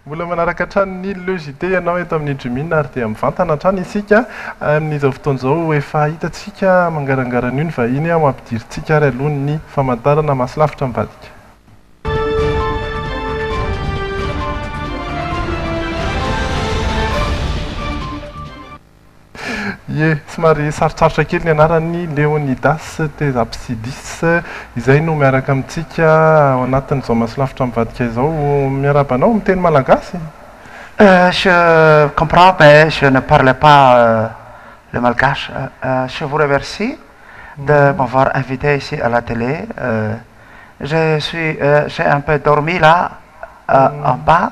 Mbola manaraka hatrany ny Le JT ianao eto amin'ny Jumina ary dia mivantana hatrany isika amin'izao fotoana izao. Efa hitantsika mangarangara an'io ny vahiny ho ampidirintsika ary aloha ny famantarana Maso lavitra ambadika. Ie, somary sarotsarotra kely ny anaran'i Leonidas Tes Apsidis, izay no miaraka amintsika ao anatin'izao Masolavitra mivadika izao. Miarahaba anao, miteny malagasy? Je comprends mais je ne parle pas le malgache. Je vous remercie de m'avoir invité ici à la télé. Je suis, j'ai un peu dormi là en bas.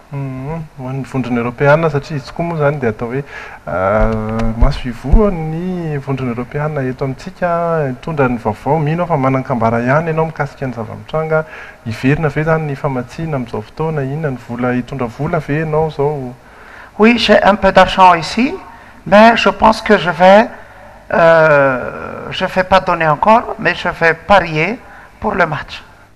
Ho an'ny Vondrona Eoropeana, satria izy tokoa moa izany dia atao hoe maso ivohon'ny Vondrona Eoropeana eto amintsika, mitondra ny vaovao, mino aho fa manan-kambara ihany ianao mikasika ny zava-mitranga, hiverina ve izany ny famatsiana amin'izao fotoana, inona ny vola, hitondra vola ve ianao izao? Oui, j'ai un peu d'argent ici, mais je pense que je vais, je vais pas donner encore, mais je vais parier pour le match.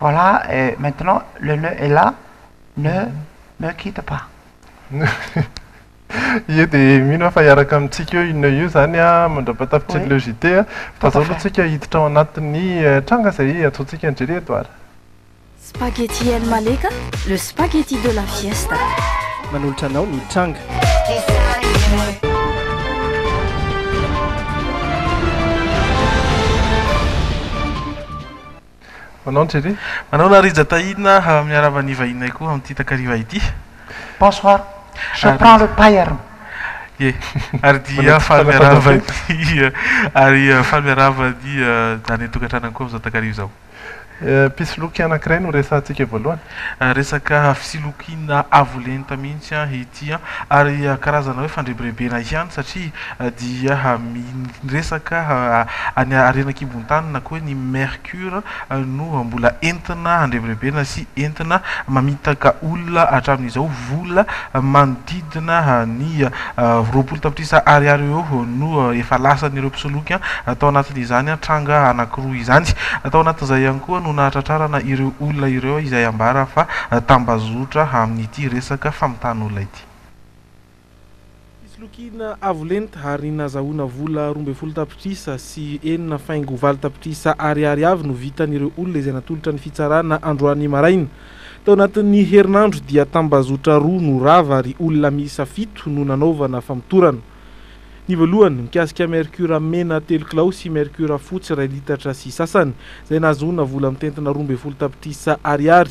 Voilà et maintenant le nœud est là, ne me quitte pas. Ie dia mino aho fa hiaraka amintsika eo io nœud io izany mandra-pahatafitr'ilay Oui. JT. Fa Tout à izao aloha fait. tsika hiditra ao anatin'ny eh, tranga izay antsointsika an'i Jerry Edouard. Spaghetti El Maleka, le spaghetti de la fiesta. Manolotra anao ny tranga. Manao ny tele. Manao la Rija Tahina miarahaba ny vahininay koa amin'ity takariva ity. Bonsoir. Je prends le paierme. Ie, ary dia faly miarahaba ny ary faly miarahaba ny daniel tokantranany koa amin'izao takariva izao. Mpisoloky anankiray no resahantsika voalohany. Resaka fisilokiana avo lenta mihitsy ity ary karazana hoe fandrebirebena ihany satria dia miresaka ny harena an-kibon-tany na koa hoe ny mercure no mbola entina handrebirebena sy entina mamitaka olona hatramin'izao vola manodidina ny Roapolo tapitrisa ariary eo ho eo no efa lasan'ireo mpisoloky tao anatin'izany tranga anankiroa izany. Tao anatin'izay ihany koa no nahatratrarana ireo olona ireo izay ambara fa tambazotra amin'ity resaka famitàn'olona ity. Fisolokiana avo lenta ary nazahoana vola roa ambin'ny folo tapitrisa sy enina faingo valo tapitrisa ariary avy no vitan'ireo olona izay natolotra ny fitsarana androany maraina. Tao anatin'ny herinandro dia tambazotra roa no rava ary olona miisa fito no nanaovana famotorana. Ny voalohany, mikasika mercure mena telo kilao sy mercure fotsy iray litatra sy sasany, izay nahazoana vola mitentina roa ambin'ny folo tapitrisa ariary.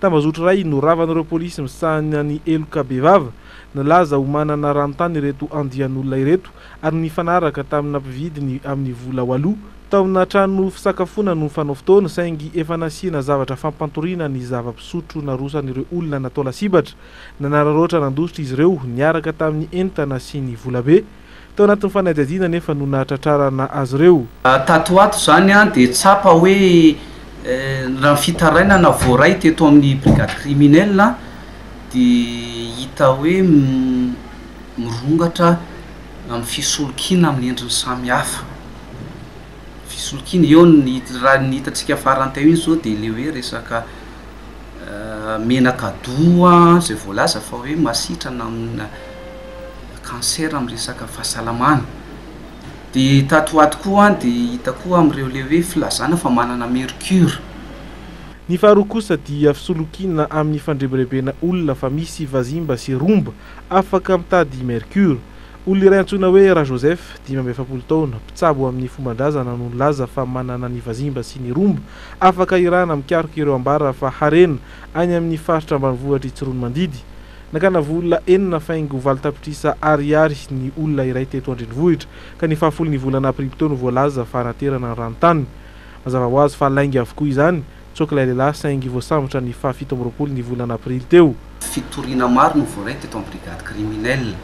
Tambazotra iray no ravan'ireo polisy misahana ny heloka bevava. Nalaza ho manana ranontany ireto andian'olona ireto ary nifanaraka tamina mpividiny amin'ny vola waloha. Taona trano fisakafoana no fanao fotoana, saingy efa nasiana zavatra fampantoriana ny zava-pisotro narosan'ireo olona natao lasibatra. Nanararaotra nandositra izy ireo, niaraka tamin'ny entana sy ny volabe. Tao anatin'ny fanadihadiana anefa no nahatratrarana azy ireo. Tato ho ato izany dia tsapa hoe raha ny fitarainana voaray teto amin'ny brigade criminelle dia hita hoe. mirongatra amin'ny fisolokiana amin'ny endriny samihafa. Fisolokiana, eo ny raha ny hitantsika farany teo iny izao dia le hoe resaka menaka doux izay voalaza fa hoe masitrana amina cancer amin'ny resaka fahasalamana. Dia tato ho ato koa dia hita koa amin'ireo le hoe filazana fa manana mercure. Ny faharoa kosa dia fisolokiana amin'ny fandrebirebena olona fa misy vazimba sy romba Afaka mitady i Mercure. Olona iray antsoina hoe Rajoseph, dimy amby efapolo taona, mpitsabo amin'ny fomban-drazana no nilaza fa manana ny vazimba sy ny romba afaka irahana mikaroka ireo ambara fa harena any amin'ny faritra ambanivohitr'i Tsiroanomandidy. Nakana vola enina faingo valo tapitrisa Ariary ny olona iray teto an-drenivohitra ka ny fahafolon'ny volana Aprily teo no voalaza fa hanaterana ny ranontany. Mazava ho azy fa lainga avokoa izany. Tsoaka ilay lehilahy saingy voasambotra ny faha fito amby roapolo ny volana aprily teo. Fitoriana maro no voaray teto amin'ny brigade criminelle.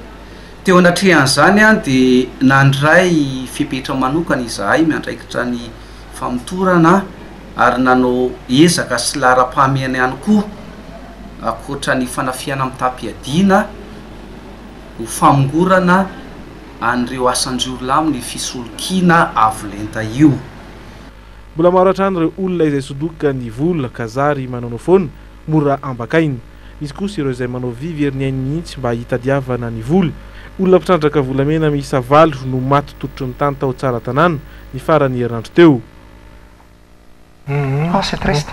Teo anatrehan'izany dia nandray fepetra manokana izahay miandraikitra ny famotorana ary nanao ezaka sy laharam-pahamehana ihany koa ankoatra ny fanafihana mitam-piadiana ho famongorana an'ireo asan-jiolahy amin'ny fisolokiana avo lenta io. Mbola maro hatrany ireo olona izay sodoka ny vola ka zary manaonao foana, mora ambakaina. Misy kosa ireo izay manao vy very ny ainy mihitsy mba hitadiavana ny vola. Olona mpitrandraka volamena miisa valo no maty tototry ny tany tao Tsaratanàna, ny farany herinandro teo. Uhum, você é triste.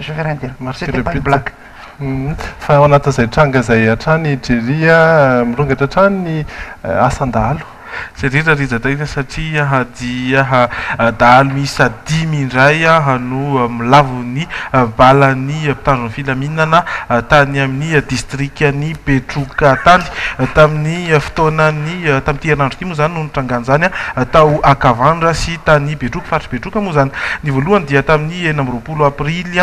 Je vais rien dire, Marseille n'est pas une blague. Fa ao anatin'izay tranga izay hatrany i Jerry a, mirongatra hatrany ny asan-dahalo. Jerry Rarizatraina satria dia dahalo miisa dimy indray no milavo ny balan'ny mpitandro ny filaminana tany amin'ny distrikan'i Betroka tany. Tamin'ny fotoanan'ny, tamin'ity herinandro ity moa izany no nitrangan'izany. tao Akavandra sy tany Betroka, faritry Betroka moa izany. Ny voalohany dia tamin'ny enina amby roapolo aprily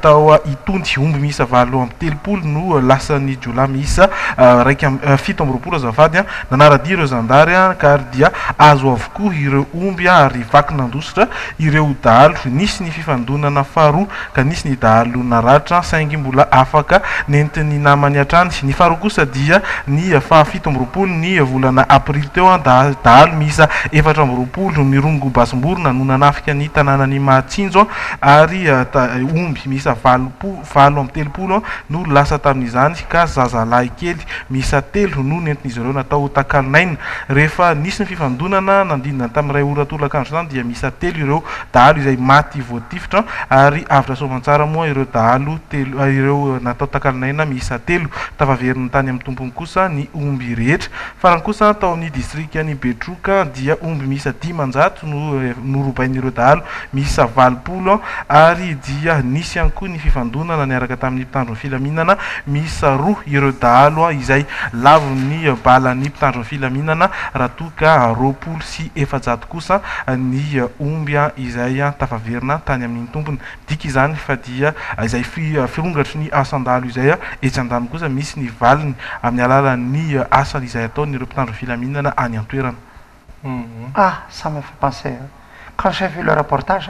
tao Itony, omby miisa valo amby telopolo no lasan'ny jiolahy miisa iraika amby fito amby roapolo azafady. Nanara-dia ireo zandary ka ary dia azo avokoa ireo omby ary vaky nandositra ireo dahalo. Nisy ny fifandonana faharoa ka nisy ny dahalo naratra saingy mbola afaka nentin'ny namany hatrany, ny faharoa kosa dia ny faha fito amby roapolo ny volana aprily teo, dahalo miisa efatra amby roapolo mirongo basim-borona no nanafika ny tanànan'i Mahatsinjo ary omby miisa valo amby telopolo no lasa tamin'izany ka zazalahy kely miisa telo no nentin'izy ireo natao takalon'aina rehefa nisy ny fifandonana nanodidina tamin'ny iray ora tolakandro izany dia miisa telo ireo dahalo izay maty voatifitra ary avy tra Soamantsara moa ireo dahalo telo ireo natao takalon'aina miisa telo. Tafaveriny tany amin'ny tompony kosa ny omby rehetra. Farany kosa tao amin'ny distrikan'i Betroka dia omby miisa dimanjato no norobain'ireo dahalo miisa valopolo ary dia nisy ihany koa ny fifandonana niaraka tamin'ny mpitandro ny filaminana miisa roa ireo dahalo izay lavon'ny balan'ny mpitandro ny filaminana raha toa ka roapolo sy efajato kosa ny omby izay tafaverina tany amin'ny tompony. Midika izany fa dia izay firongatry ny asan-dalo izay etsy an-daniny kosa misy ny valiny amin'ny alalan'ny asa izay ataon'ireo mpitandro ny filaminana any an-toerana. Ah, ça me fait penser quand j'ai vu le reportage,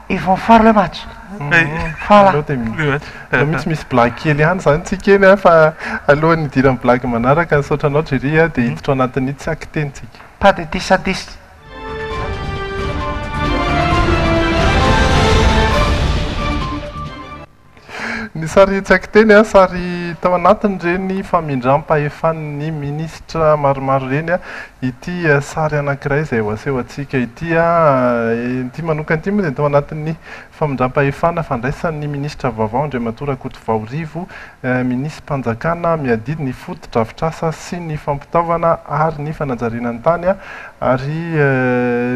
Ils vont faire le match. Voilà. Aleo dia mi- Le match. aleo mihitsy misy blague kely ihany izany tsika eny a, fa alohan'ny hidiran'ny blague manaraka, nisaotra anao Jerry a, dia hiditra ao anatin'ny tsaky teny tsika. Pas de dix à dix. Ny sary tsy haiko teny, sary tao anatin'ireny famindram-pahefan'ny minisitra maromaro ireny ity sary anankiray izay ho asehontsika ity. Ity manokana ity moa dia tao anatin'ny famindram-pahefana fandraisan'ny minisitra vaovao Andriamatoa Rakotovao Rivo, minisi-panjakana miadidy ny fotodrafitrasa sy ny fampitaovana ary ny fanajariana ny tany ary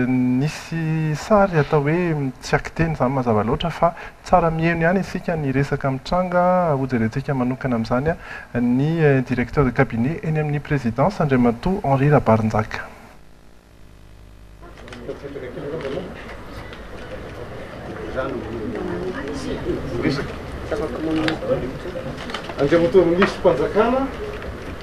nisy sary atao hoe tsy haiko teny izany mazava loatra fa Tsara mihaino ihany isika ny resaka mitranga, hojerentsika manokana amin'izany ny Directeur de Cabinet eny amin'ny Présidence, Andriamatoa Henri Rabarinjaka. Andriamatoa Ministrom-panjakana.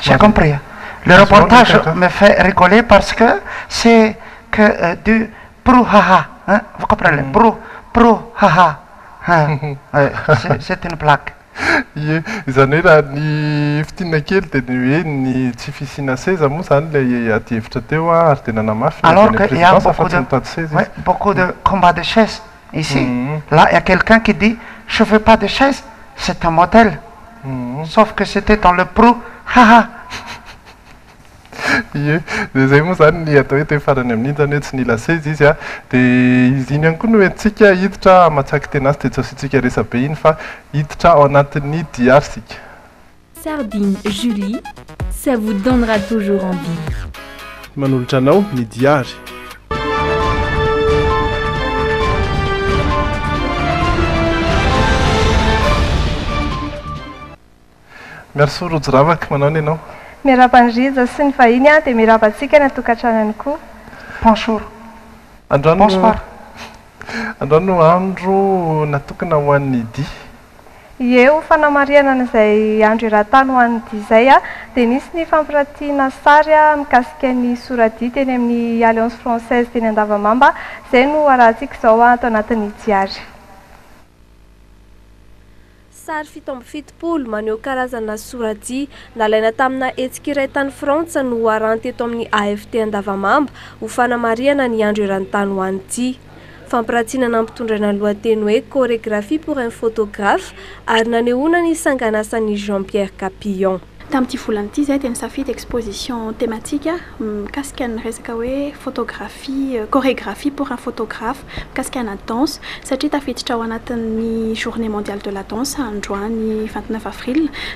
J'ai compris. Le reportage me fait rigoler parce que c'est que du brouhaha hein, vous comprenez, brou, brou, haha hein, c'est c'est une blague. Ie, izany hoe raha ny fintinina kely dia ny hoe ny tsy fisiana seza moa izany ilay adihevitra teo ary dia nanamafy ny avy any amin'ny présidence fa tsy mitady seza izy. Alors que il y a beaucoup de oui, beaucoup de combat de chaises ici là il y a quelqu'un qui dit je veux pas de chaise c'est un motel sauf que c'etait dans le pro ha ha ie dia izay moa izany ny atao hoe teny farany amin'iny izany hoe tsy nila seza izy an dia izy iny ihany koa no entintsika hiditra hamatsiak'i Tenasy dia tsy asiantsika resabe iny fa hiditra ao anatin'ny diary isika. Sardine Julie, ça vous donnera toujours envie. Manolotra anao ny Diary. Merci Rojo Ravaka, manao ny anao? Miarahaba an'i Rija sy ny vahiny aho dia mirahaba antsika any an-tokantranony koa. Bonjour. Bonsoir. Androany no andro natokana ho an'ny dihy. Ie, ho fanamarihana an'izay andro eran-tany ho an'ny dia izay dia nisy ny fampirantiana sary mikasika ny sora-dia teny amin'ny Alliance Française teny Andavamamba, izay no arahantsika izao ato anatin'ny Diary. Sary fito amby fitopolo maneho karazana sora-dia nalaina tamina hetsika iray tany Frantsa no arahanty eto amin'ny AFT Andavamamba ho fanamarihana ny andro eran-tany ho an'ny dia. Fampiratina nampitondraina ny lohateny hoe Chorégraphie pour un photographe ary nanehoana ny sanganasan'i Jean Pierre Capillon. Tamin'ity volana ity izahay dia nisafidy exposition thématique mikasika ny resaka hoe Photographie, Chorégraphie pour un photographe, mikasika ana danse, satria tafiditra ao anatin'ny Journée mondiale de la danse androany vingt neuf avril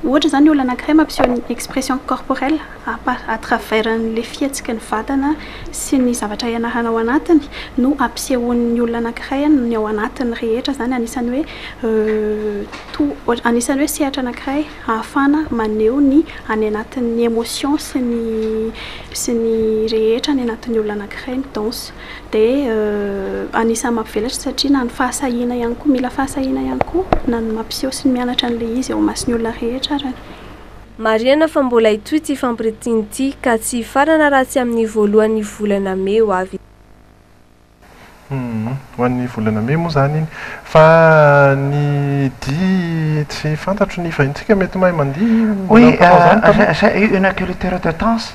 Ohatra izany olona anankiray mampiseho ny expression corporelle à par à travers an'ilay fihetsiky ny vatana sy ny zavatra ianarana ao anatiny no ampisehoan'ny olona anankiray ny ao anatiny rehetra izany anisan'ny hoe tout anisan'ny hoe sehatra anankiray ahafahana maneho ny any anatin'ny emotion sy ny sy ny rehetra any anatin'ny olona anankiray ny danse. Dia anisan'ny mampivelatra satria na ny fahasahiana ihany koa, mila fahasahiana ihany koa na ny mampiseho sy ny mianatra an'ilay izy eo imason'ny olona rehetra ary. Marihana fa mbola hitohy ity fampiritiana ity ka tsy hifarana raha tsy amin'ny voalohan'ny volana mey ho avy izao. Humm. Ho an'ny volana mey moa izany iny. Fa ny dihy tsy fantatro ny vahinintsika mety mahay mandihy, mbola mpanao izany taloha? Oui, j'ai eu un agriculteur de Tence,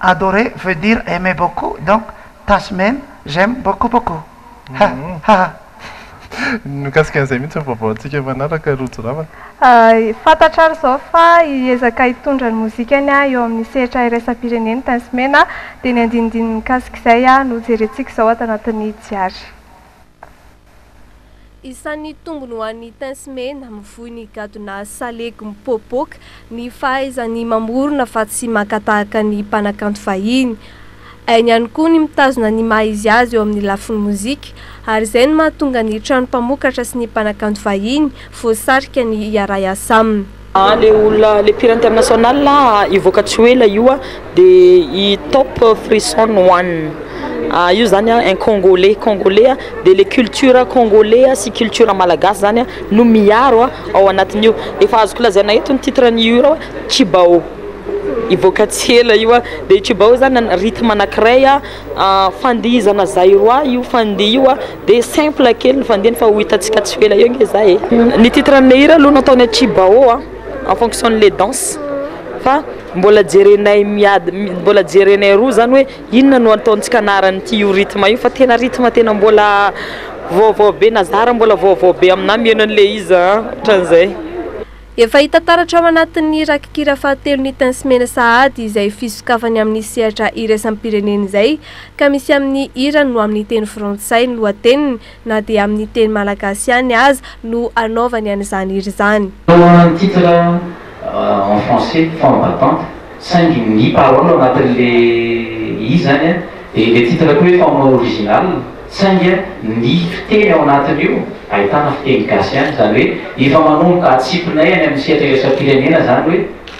Adorer veut dire aimer beaucoup donc Tasy Mena j'aime beaucoup beaucoup ha ha ha. Mikasika an'izay mihitsy ny vaovaontsika manaraka Rojo ravana. Fantatra ary izao fa hiezaka hitondra ny mozikany eo amin'ny sehatra iraisam-pirenena i Tasy Mena dia ny andinindininy mikasika izay no jerentsika izao ato anatin'ny Diary. Isan'ny tombony ho an'ny Tins Mena mivoy ny gadona salegy mipoapoaka ny fahaizany mamorona fa tsy maka tahaka ny mpanakanto fahiny. Hainy ihany koa ny mitazona ny maha izy azy eo amin'ny lafiny mozika ary izay no mahatonga ny trano mpamokatra sy ny mpanakanto vahiny voasarika ny hiara-hiasa aminy. Le olona le mpihira international hivoaka tsy ho ela io a de i Top Frison One a io zany a un congolais congolais a de le culture congolais a sy culture malagasy zany a no miaro a ao anatin'io efa azoko lazaina eto ny titre an'io hira hoe Tshibaô hivoaka tsy ela io a de i Tshibaô zany rythme anankiray a fandihizana zairois io fandihy io a. Dia simple kely ny fandihany fa ho hitantsika tsy ho ela eo nge za e. Ny titre n'le hira aloha natao ny aty Bao a, en fonction n'le danse fa mbola jerenay miad- mbola jerenay roa zany hoe inona no ataontsika anaran'ity io rythme io fa tena rythme tena mbola vaovao be na za ary mbola vaovao be aminah miheno an'le izy a, otran'izay. Efa hita taratra ao anatin'ny rakikira fahatelo ny Tins Mena Sahady izay fisokafany amin'ny sehatra iraisam-pirenena izay ka misy amin'ny hirany no amin'ny teny frantsay ny lohateniny na dia amin'ny teny malagasy ihany aza no anaovany an'izany hira izany. Toa ny titre en français, Femme battante, saingy ny paroles ao anatin'ilay izy izany dia ilay titre koa hoe Femme originale. Saingy ny fiteny ao anatin'io ahitana fiteny gasy ihany, izany hoe efa manomboka atsipinay any amin'ny sehatra iraisam-pirenena izany hoe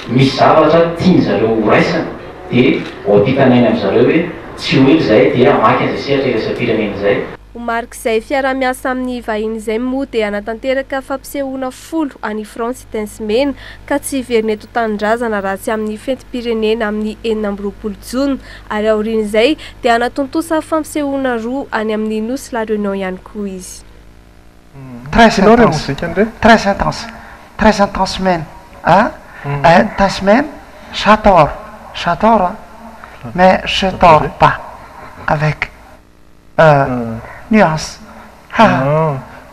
misy zavatra tiany zareo ho raisina dia ho ampitanainy amin'ny zareo hoe tsy ho ela izay dia hamaky an'izay sehatra iraisam-pirenena izay. Ho marik'izay fiaraha-miasa amin'ny vahiny izay moa dia hanatanteraka fampisehoana folo any Frantsa i Tence Mena ka tsy hiverina eto an-tanindrazana raha tsy amin'ny fetim-pirenena amin'ny enina amby roapolo jona ary aorian'izay dia hanatontosa fampisehoana roa any amin'ny nosy La Réunion ihany koa izy. Très intense, très intense, très intense mena ah, intense mena, j'adore, j'adore ah, mais je dors pas avec. Nuance.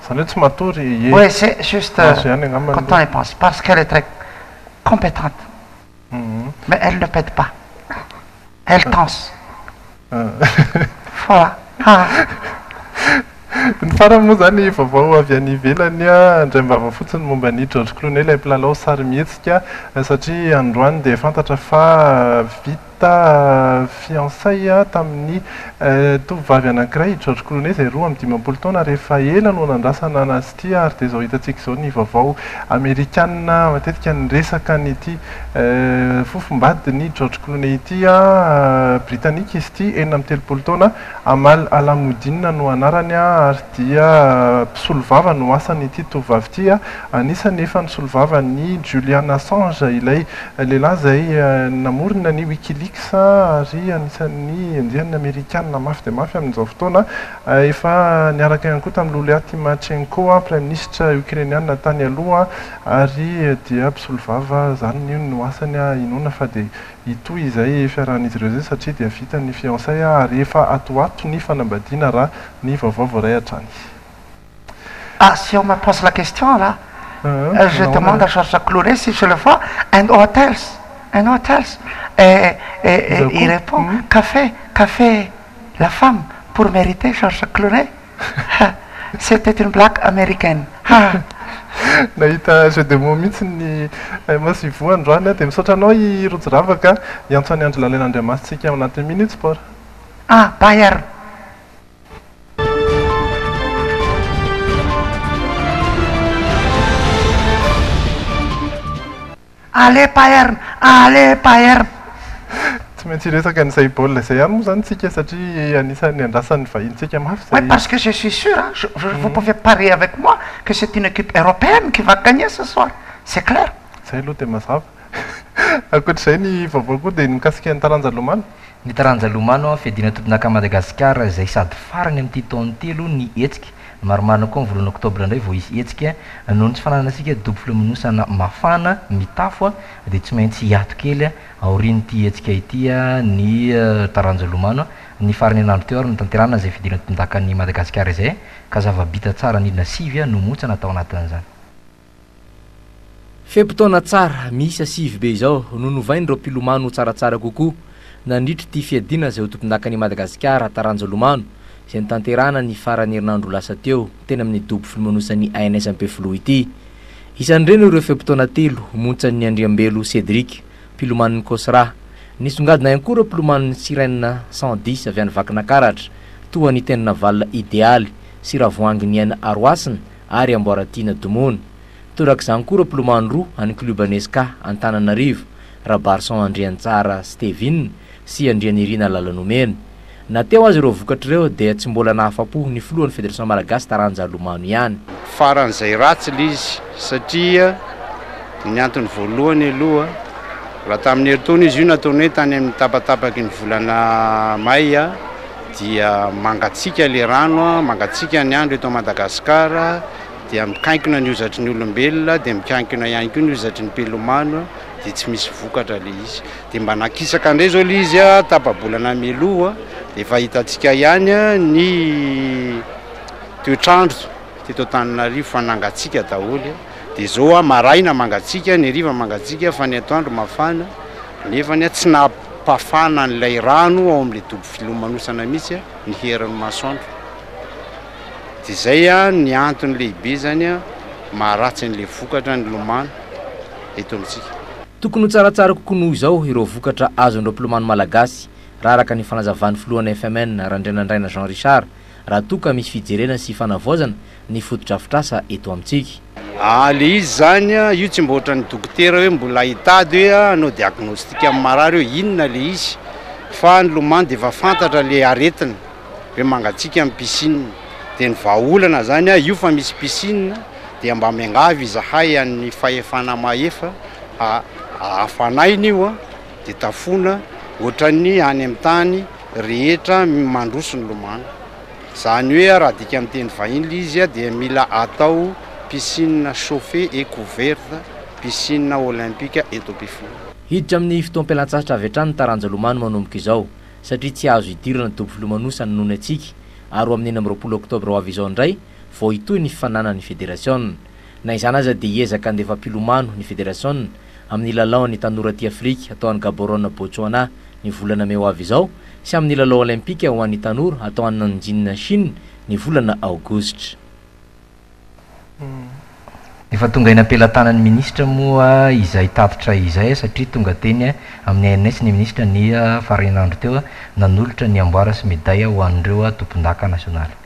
Zany hoe tsy matory e. Oui c'est juste quand temps est passe parce qu'elle est très competente mais elle ne pète pas elle tense voilà. Ny farany moa izany vaovao avy any ivelany andraim-bava fotsiny momba an'i George Clooney ilay mpilalao sarimihetsika satria androany dia fantatra fa vita. ta fiancé tamin'ny tovovavy anankiray, i George Clooney, izay roa amby dimampolo taona, ary efa ela no nandrasana anazy ity, ary dia izao hitantsika izao ny vaovao amerikana matetika niresaka an'ity fofombadin'i George Clooney ity, britanika izy ity, enina amby telopolo taona, Amal Alamuddin no anarany, ary. dia mpisolovava no asan'ity tovovavy ity. Anisan'ny efa nisolovava an'i Julian Assange, ilay lehilahy izay namorona ny Wikileaks ary anisan'ny enjehin'ny Amerikana mafy dia mafy amin'izao fotoana. Efa niaraka ihany koa tamin'i Lulia Tymachenko, praiminisitra Okrainiana tany aloha, ary dia mpisolovava zarina io no asany. Inoana fa dia hitohy izay fiarahan'izy ireo izay satria dia vita ny fiançay ary efa atoato ny fanambadiana raha ny vaovao vao ray hatrany. Ah si on me pose la question là je demande à Georges Clooney si je le vois and what else and what else et il repond café café la femme pour meriter Georges Clooney. Ha! C'était une blague américaine. Ha! Nahita jeux de mots mihitsy ny MS Ivo androany a! Dia misaotra anao i Rojo Ravaka a! Hiantso an'i Andry Lalina Andriamasintsika ao anatin'ny Minutes Sport. Ah! Bayern! Allez Bayern! Allez Bayern! Tsy maintsy hiresaka ny Saibol izay ihany moa izany isika satria anisan'ny andrasan'ny vahinintsika mafy izay. Oui parce que je suis sûr hein, je, vous pouvez parier avec moi que c'est une équipe européenne qui va gagner ce soir, c'est clair. Izay aloha dia mazava. Ankoatr'izay ny vaovao koa dia ny mikasika ny taranja lomano. Ny taranja lomano an, fiadiana tompondaka Madagasikara izay sady farany amin'ity taona ity aloha ny hetsika. Marimarina koa ny voalohan'ny oktobra indray vao hisy hetsika. Noho ny tsy fananantsika dobo filomanosana mafana mitafo dia tsy maintsy hiato kely aorian'ity hetsika ity ny taranja hilomano. Ny faran'ny herinandro teo ary notanterahana izay fidirana tompondaka an'i Madagasikara izay ka zava-bita tsara nidina sivy no montsana tao anatin'izany. Fe-potoana tsara miisa sivy be izao no novain'ireo mpilomano ho tsaratsara kokoa nandritra ity fiadiana izay ho tompondakan' i Madagasikara taranja lomano izay notanterahana ny faran'ny herinandro lasa teo teny amin'ny dobo filomanosany ANS Ampefiloha ity. Isan'ireny ireo fe-potoana telo homontsan'i Andriambelo Cédric, mpilomanon'ny Cosra. Nisongadina ihany koa ireo mpilomanon'ny Sirène cent dix avy any Vakinakaratra toa an'i Teninavalona Idealy sy Ravoahangy Niaina Arohasina ary Amboaratiana Domony. Torak'izany koa ireo mpilomano roa an'ny klioba Nesca Antananarivo, Rabarison Andriantsara Stévin sy Andrianirina Lalanomena. Na teo aza ireo vokatra ireo dia tsy mbola nahafa-po ny filohan'ny Federasiona Malagasy taranja lomano ihany. Faran'izay ratsy ilay izy satria ny antony voalohany aloha raha tamin'ny herintaona izy io nataony hoe tany amin'ny tapatapaky ny volana Mai, dia mangatsiaka ilay rano, mangatsiaka ny andro eto Madagasikara, dia mikainkona ny hozatry ny olombelona, dia mikainkona ihany koa ny hozatry ny mpilomano, dia tsy misy vokatra ilay izy. Dia mba nakisaka indray izao ilay izy tapa-bolana mialoha, dia efa hitantsika ihany ny toetr'andro teto Antananarivo fa nangatsiaka daholo. dia zao ah maraina mangatsiaka, ny hariva mangatsiaka fa ny atoandro mafana, nefany ah tsy nampafana an'ilay rano ao amin'ilay dobo filomanosana mihitsy ah ny herin'ny masoandro, dia zay ah ny antony lehibe zany ah maharatsy an'ilay vokatra nilomano eto amintsika. Tokony ho tsaratsara kokoa noho izao ireo vokatra azon'ireo mpilomano malagasy, raha araka ny fanazavan'ny filohan'ny FMN, Randrianandraina Jean Richard, raha toa ka misy fijerena sy fanavaozana ny fotodrafitrasa eto amintsika. Aa le izy zany a, io tsy mba ohatran'ny dokotera hoe mbola hitady hoe a hanao diagnostic amin'ny marary hoe inona le izy fa nilomano dia efa fantatra le aretina hoe mangatsiaka ny piscine dia ny vahaolana zany a io fa misy piscine dia mba miangavy izahay an'ny fahefana mahefa ha hafanaina io a dia tafona ohatran'ny any amin'ny tany rehetra mandroso ny lomano. Zany hoe raha adika amin'ny teny vahiny ilay izy dia mila atao piscine chauffee et couverte, piscine olympique et topify. Hiditra amin'ny fotoam-pialantsasatra avy hatrany ny taranja lomano manomboka izao, satria tsy azo idirana ny dobo filomanosana noho ny hatsiaka, ary ho amin'ny enina amby roapolo oktobra ho avy izao indray vao hitohy ny fifaninanan'ny federasiona. Na izany aza dia hiezaka handefa mpilomano ny federasiona amin'ny lalaon'ny tanora aty Afrika atao any Gaborone Botsoana ny volana mey ho avy izao sy amin'ny lalao Olympika ho an'ny tanora atao any Nanjin Chine ny volana aogositra. Efa tonga eny am-pelatanan'ny minisitra moa izay tatitra izay satria tonga teny amin'ny ANS ny minisitra ny farahinandro teo nanolotra ny amboara sy medaille ho an'ireo tompondaka nasionaly.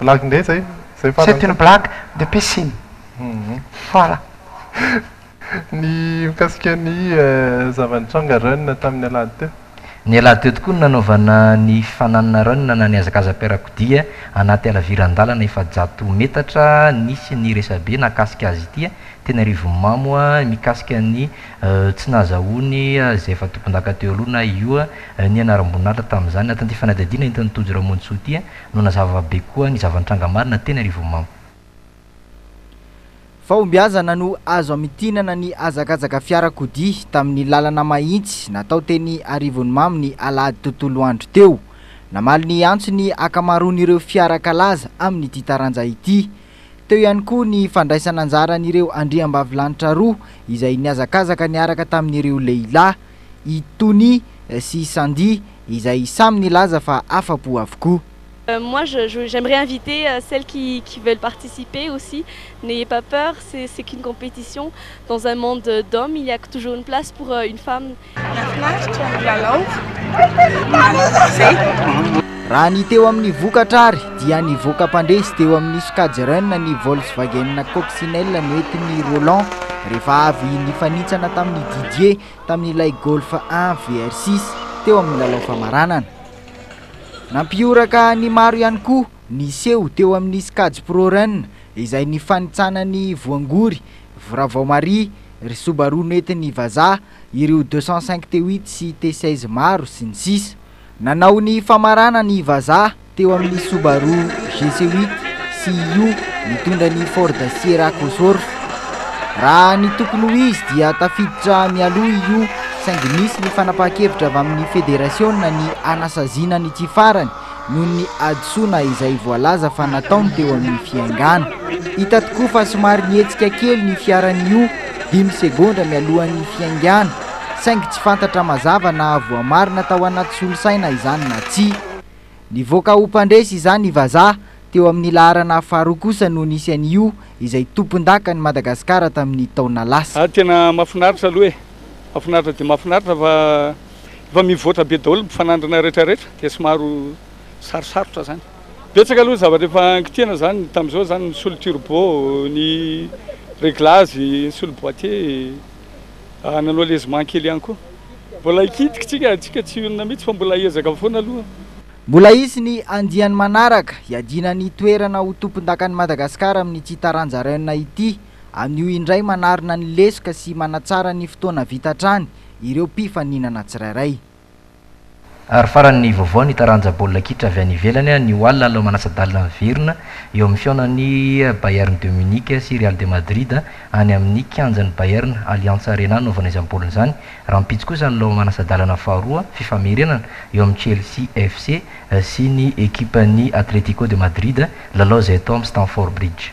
Blague indray izay? Izay farany? C'est une blague de piscine. Voilà. Ny mikasika ny zava-nitranga Rennes tamin'ny alahady teo? Ny alahady teo tokoa no nanaovana ny fananana Rennes na nihazakazam-piarakodia anaty halaviran-dalana efajato metatra nisy ny resabe nakasika azy ity teny Arivonimamo mikasika ny tsy nahazahoany izay efa tompondaka teo aloha na io Ny anaram-boninahitra tamin'izany natin'ity fanadihadiana entin'i Tojo Ramonjisoa ity no nazava be koa ny zava-nitranga marina teny Arivonimamo. Fahombiazana no azo hamintinana ny hazakazaka fiarakodia tamin'ny lalana mahitsy natao teny Arivonimamo ny alahady tontolo andro teo. Namaly ny antsony ny ankamaroan'ireo fiara kalaza amin'ity taranja ity. Teo ihany koa ny fandraisan'anjaran'ireo andriambavilanitra roa izay nihazakazaka niaraka tamin'ireo lehilahy, i Tony sy i Sandy, izay samy nilaza fa afa-po avokoa. Moi je je j'aimerais inviter celles qui qui veulent participer aussi n'ayez pas peur c'est c'est qu'une compétition dans un monde d'hommes il y a toujours une place pour une femme. Nahafinaritra ny lalao. Manaraka izay. Raha ny teo amin'ny vokatra ary dia nivoaka mpandresy teo amin'ny sokajy Run ny Volkswagen Coccinelle nentin'i Roland rehefa avy nifanitsana tamin'i Didier tamin'ilay Golf un VR six teo amin'ny lalao famaranana. Nampihoraka ny maro ihany koa ny seho teo amin'ny sokajy Pro Run izay nifanitsana ny voangory Vravao Marie, ry Subaru nentin'i Vaza, ireo deux cent cinq T huit sy T seize maro, sy ny sisa Nanao ny famarana ny vazaha teo amin'ny Subaru GC huit CIU nitondra ny Ford Sierra Cosworth. Raha ny tokony ho izy dia tafiditra mialoha i Yu saingy nisy ny fanapahan-kevitra avy amin'ny federasiona ny hanasaziana ny tsy farany noho ny hadisoana izay voalaza fa nataony teo amin'ny fiaingàna. Hita tokoa fa somary nihetsika kely ny fiaran'i Yu dimy segondra mialohan'ny fiaingàna, saingy tsy fantatra mazava na voamarina tao anaty solosaina izany na tsia. Nivoaka ho mpandresy izany i Vazaha teo amin'ny laharana faharoa kosa no nisy an'i Yu izay tompondakan'i Madagasikara tamin'ny taona lasa. Ary tena mafinaritra aloha e! Mafinaritra dia mafinaritra fa. efa mivoatra be daholo ny mpifanandrina rehetra rehetra dia somaro sarosarotra zany. Betsaka aloha ny zavatra efa angitihana zany tamin'izao zany ny solo turbo, ny reglage, ny solo boitier, nanao lezement kely ihany koa. Mbola hikitika tsika, tsika tsy honina mihitsy fa mbola hiezaka foana aloha. Mbola hisy ny andiany manaraka hiadiana ny toerana ho tompondakan'i Madagasikara amin'ity taranja Rennes ity. Anio indray manarina ny lesoka sy manatsara ny fotoana vita hatrany ireo mpifaninana tsirairay. Ary farany ny vaovao, ny taranja baolina kitra avy any ivelany anio alina lalao manasa-dalana miverina eo amin'ny fihaonan'ny Bayern de Munich sy Real de Madrid any amin'ny kianjan'ny Bayern Allianz Arena hanaovana izany baolina izany. Rahampitso kosa ny lalao manasa-dalana faharoa fifamerenana eo amin'ny Chelsea FC sy ny ekipan'ny Atletico de Madrid, lalao izay atao amin'ny Stamford Bridge.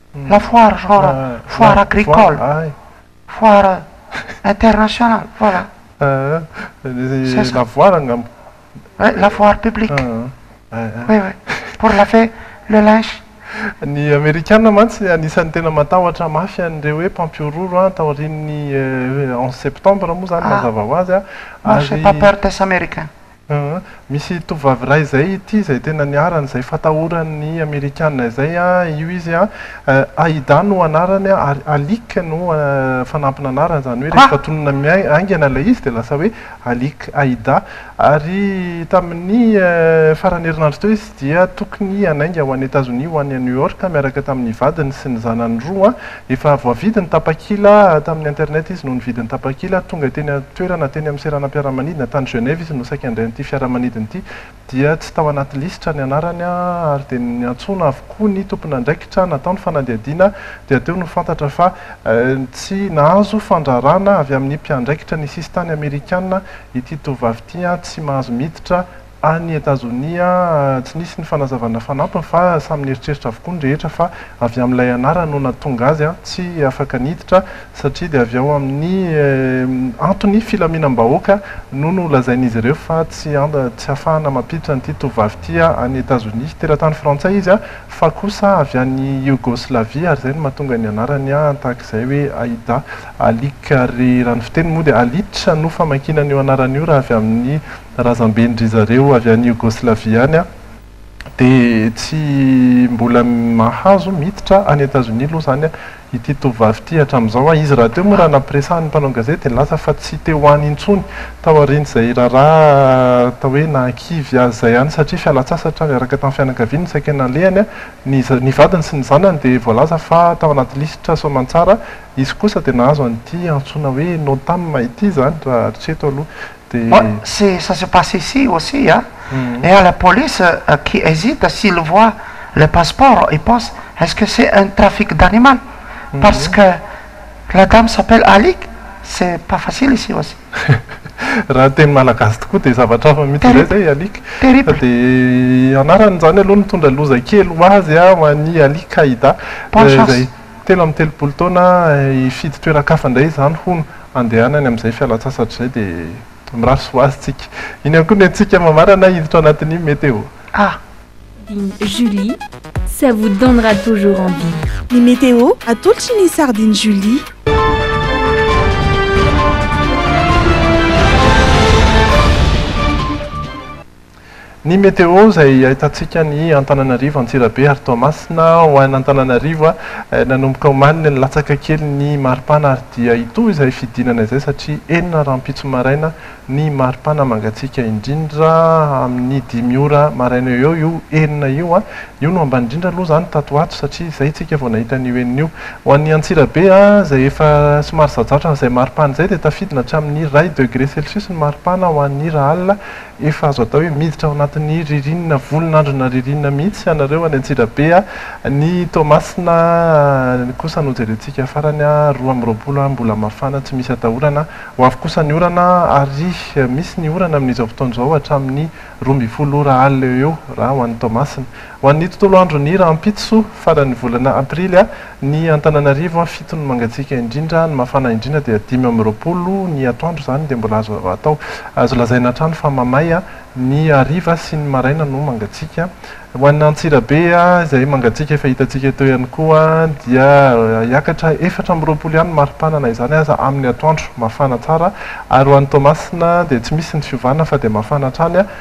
la foire genre foire agricole foire internationale voilà c'est ça la foire angamba ouais la foire publique oui oui pour laver le linge Ny Amerikana mantsy anisan'ny tena matahotra mafy an'ireo hoe mpampihorohoro an, taorian'ny onze septembre moa izany mazava ho azy an, ary. Moi j'ai pas peur des Américains. Aa, misy tovovavy iray izay ity izay tena niharany izay fatahoran'ny amerikana izay a, io izy a, Aida no anarany a, ary Alick no fanampin'anarany, izany hoe rehefa tononina miain, haingana ilay izy dia lasa hoe Alick Aida, ary tamin'ny faran'ny herinandro teo izy dia tokony hanainga ho any Etazonia ho any New York miaraka tamin'ny vadiny sy ny zanany roa, Efa voavidy ny tapakila tamin'ny internet izy no nividy ny tapakila, tonga teny an-toerana teny amin'ny seranam-piaramanidina tany Genève izy no saika handray an'ity fiaramanidina ity dia tsy tao anaty lisitra ny anarany ary dia niantsoana avokoa ny tompon'andraikitra natao ny fanadihadiana dia teo no fantatra fa tsy nahazo fandrarana avy amin'ny mpiandraikitra ny sisintany amerikana ity tovovavy ity, tsy mahazo miditra Any Etazonia, tsy nisy ny fanazavana fanampiny fa samy nieritreritra avokoa ny rehetra fa avy amin'ilay anarana no nahatonga azy tsy afaka niditra satria dia avy ao amin'ny antony filaminam-bahoaka no nolazain'izy ireo fa tsy ahafahana mampiditra an'ity tovovavy ity any Etazonia. Teratany frantsay izy fa kosa avy any Yogoslavia ary izay no mahatonga ny anarany tahak'izay hoe Aida. Alika ry Ranofiteny moa dia Alice no famakiana an'io anarana io raha avy amin'ny razamben-dry zareo avy any Yogoslavia any aho dia tsy mbola mahazo miditra any Etazonia aloha izany ity tovovavy ity hatramin'izao. Izy rahateo moa raha nampiresahan'ny mpanao gazety dia nilaza fa tsy te ho any intsony taorian'izay raharaha atao hoe nahakivy azy izay any satria fialan-tsasatra niaraka tamin'ny fianakaviany no saika nalehany. Ny ny vadiny sy ny zanany dia voalaza fa tao anaty lisitra soamantsara. Izy kosa dia nahazo an'ity antsoina hoe Notam ity izany raha hatreto aloha. Dia. C'est ça se passe ici aussi a, et à la police qui hésite s'il voit le passeport il pense est-ce que c'est un trafic d'animal parce que la dame s'appelle Alick c'est pas facile ici aussi. Raha ny teny malagasy tokoa dia zavatra hafa mihitsy izay izay Alick. Terrible. Dia anarany izany aloha nitondra loza kely ho azy a, ho an'i Alick Aida. Bonne chance. Telo amby telopolo taona hifidy toeran-kafa indray izany hono handehanany amin'izay fialan-tsasatra izay dia mirary soa ho azy tsika. Iny ihany koa ny antsika mamarana hiditra ao anatin'ny meteo. Ah! Sardine Julie, ça vous donnera toujours envie. Ny meteo atolotry ny Sardine Julie. Ny météo izay ahitantsika ny Antananarivo, Antsirabe ary Toamasina. Ho an' Antananarivo, nanomboka omaly dia nilatsaka kely ny maripana ary dia hitohy izay fidinana izay satria enina rahampitso maraina ny maripana mangatsiaka indrindra amin' ny dimy ora maraina eo eo io enina io. Io no ambany indrindra aloha izany tato ho ato satria izay isika vao nahita an' io enina io. Ho an' ny Antsirabe izay efa somary zajatra amin' izay maripana izay dia tafidina hatramin' ny iray degré celsius ny maripana ho an' ny Irahala Efa azo atao hoe miditra ao anatin'ny ririnina, volon'androna ririnina mihitsy ianareo any Antsirabe a! Ny Toamasina kosa no jerentsika farany a! Roa amby roapolo a! Mbola mafana tsy misy atahorana. Ho avy kosa ny orana ary misy ny orana amin'izao fotoana izao hatramin'ny roa ambin'ny folo ora alina eo eo raha ho an'i Toamasina. Ho an'ny tontolo andron'ny rahampitso soa faran'ny volana aprily ny Antananarivo fito ny mangatsiaka indrindra ny mafana indrindra dia dimy amby roapolo ny atoandro izany dia mbola azo atao azo lazaina hatrany fa mamay ny hariva sy ny maraina no mangatsiaka ho an'ny Antsirabe izay mangatsiaka efa hitantsika teo ihany koa dia hiakatra efatra amby roapolo ihany ny maripana na izany aza amin'ny atoandro mafana tsara ary ho an'ny Toamasina dia tsy misy ny fiovana fa dia mafana hatrany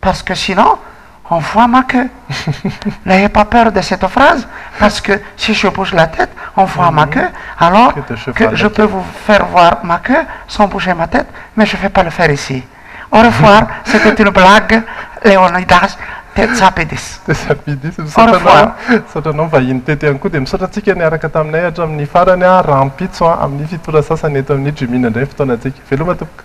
parce que sinon on voit ma queue n'ayez pas peur de cette phrase parce que si je bouge la tête on voit ma queue alors que je peux vous faire voir ma queue sans bouger ma tête mais je vais pas le faire ici au revoir c'etait une blague Leonidas Tsapidis au revoir. Misaotra anao vahiny teto ihany koa dia misaotra antsika niaraka taminay hatramin'ny farany, rahampitso amin'ny fitory sasany eto amin'ny Jimina indray ny fotoanantsika. Veloma tompoko.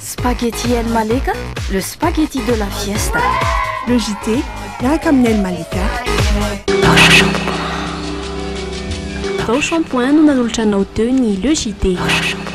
Spaghetti El Malika, le spaghetti de la fiesta. Le JT, miaraka amin'ny El Malika. Tao Shampoing no nanolotra anao teo ny Le JT.